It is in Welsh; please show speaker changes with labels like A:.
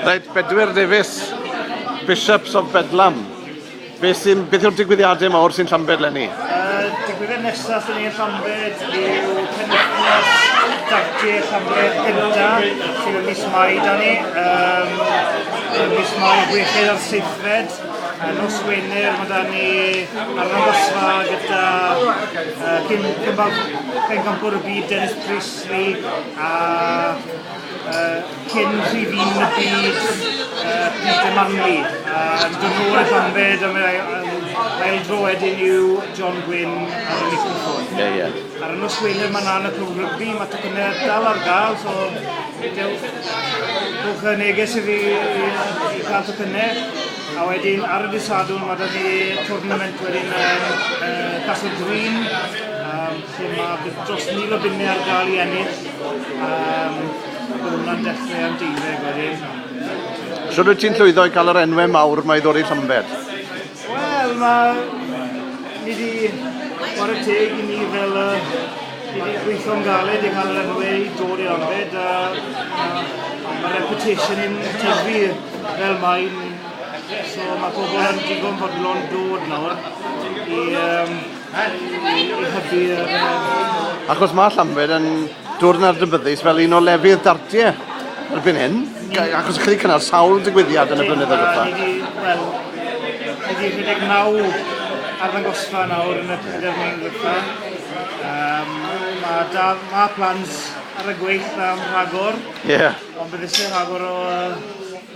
A: Reit, Bedwyr Davies, Bishops of Bedlam. Beth sy'n, beth yw'r digwyddiadau mawr sy'n Llambed lenni? Uh, digwyddiad nesaf yn ein Llambed yw penwythnos dardiau Llambed gyda sydd yn mis Mai da ni. Um, mis Mai wechyd ar seithfed. Uh, nos Wener mae da ni ar y nosfa gyda uh, cyn cymbal pencampwr y byd Dennis Pris Dwi a cyn prif un y byd, Peter Manley. Yn dod nôl i Llanbed am yr ail dro wedyn yw John Gwyn ar y microffon. Ie, ie. Ar y nos Wener mae na'n y clwb rygbi, mae tocynnau dal ar gael, so dewch, dewch y neges i fi i gael tocynnau. A wedyn ar y dydd Sadwrn mae da ni tournament wedyn yn Castle Green, Lle mae dros mil o bunnau ar gael i ennill. Um, Bydd hwnna'n dechrau am deuddeg wedyn. Sut wyt ti'n llwyddo i cael yr enwau mawr mae ddod i Llambed? Wel, mae... Ni di... O'r y teg i ni fel... Uh, Ni wedi gweithio'n galed i cael yr enwau i dod i arbed a mae reputation yn tyfu fel mae'n so mae pobl yn digon bodlon dod nawr i um, Achos mae Llanbed yn dod yn adnabyddus fel un o lefydd dartiau erbyn hyn, achos chi wedi cynnal sawl digwyddiad yn y blynyddoedd diwetha. Wel, ydy 19 arddangosfa nawr yn y pedair mlynedd diwetha. Um, mae, da, mae plans ar y gweith am rhagor, yeah. ond bydd eisiau rhagor o